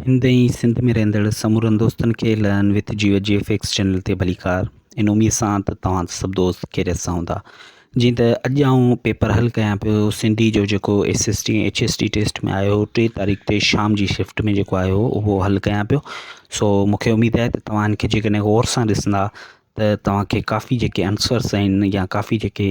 هند ۽ سنڌ ۾ رهندڙ سمورن دوستن کي لئن وٿ جيو جي ايف ايڪس چينل تي ڀليڪار ان اميد سان ته توهان سڀ دوست خيريت سان هوندا جيئن ته اڄ آئون پيپر حل ڪيان پيو سنڌي جو جيڪو S S T H S T test ۾ آيو هو ٽي تاريخ تي شام جي شفٽ ۾ جيڪو آيو هو اهو حل ڪيان پيو سو مونکي اميد آهي ته توهان ان کي جيڪڏهن غور سان ڏسندا ته توهان کي ڪافي جيڪي آنسرس آهن يا ڪافي جيڪي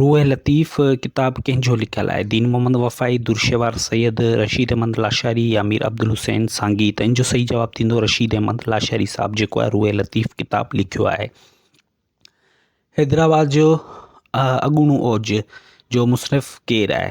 روح لطيف ڪتاب ڪنهن جو لکيل آهي؟ دين محمد وفائي، درشهوار سيد، رشيد احمد لاشاري يا مير عبدالحسين سانگي؟ ته ان جو صحيح جواب ٿيندو رشيد احمد لاشاري صاحب جيڪو آهي روح لطيف ڪتاب لکيو آهي. حيدرآباد جو اڳوڻو اوج جو مصنف ڪير آهي؟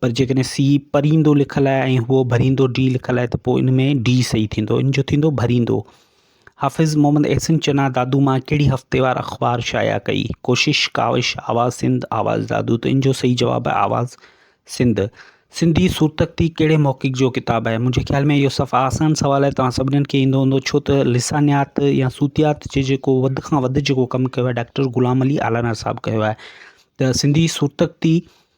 پر جيڪڏهن سي پريندو لکيل آهي ۽ هو ڀريندو ڊي لکيل آهي ته پوء ان ۾ ڊي صحيح ٿيندو ان جو ٿيندو ڀريندو حافظ محمد احسن چنا دادو مان ڪهڙي هفتيوار اخبار شايع ڪئي ڪوشش ڪاوش آواز سنڌ آواز دادو ته ان جو صحيح جواب آهي آواز سنڌ سنڌي سورتخطي ڪهڙي محقق جو ڪتاب آهي منهنجي خيال ۾ اهو صفا آسان سوال آهي توهان سڀنن کي ايندو هوندو ڇو ته لسانيات يا صوتيات جي جيڪو وڌ کان وڌ جيڪو ڪم ڪيو آهي ڊاڪٽر غلام علي آلانا صاحب ڪيو آهي ته سنڌي سورتخطي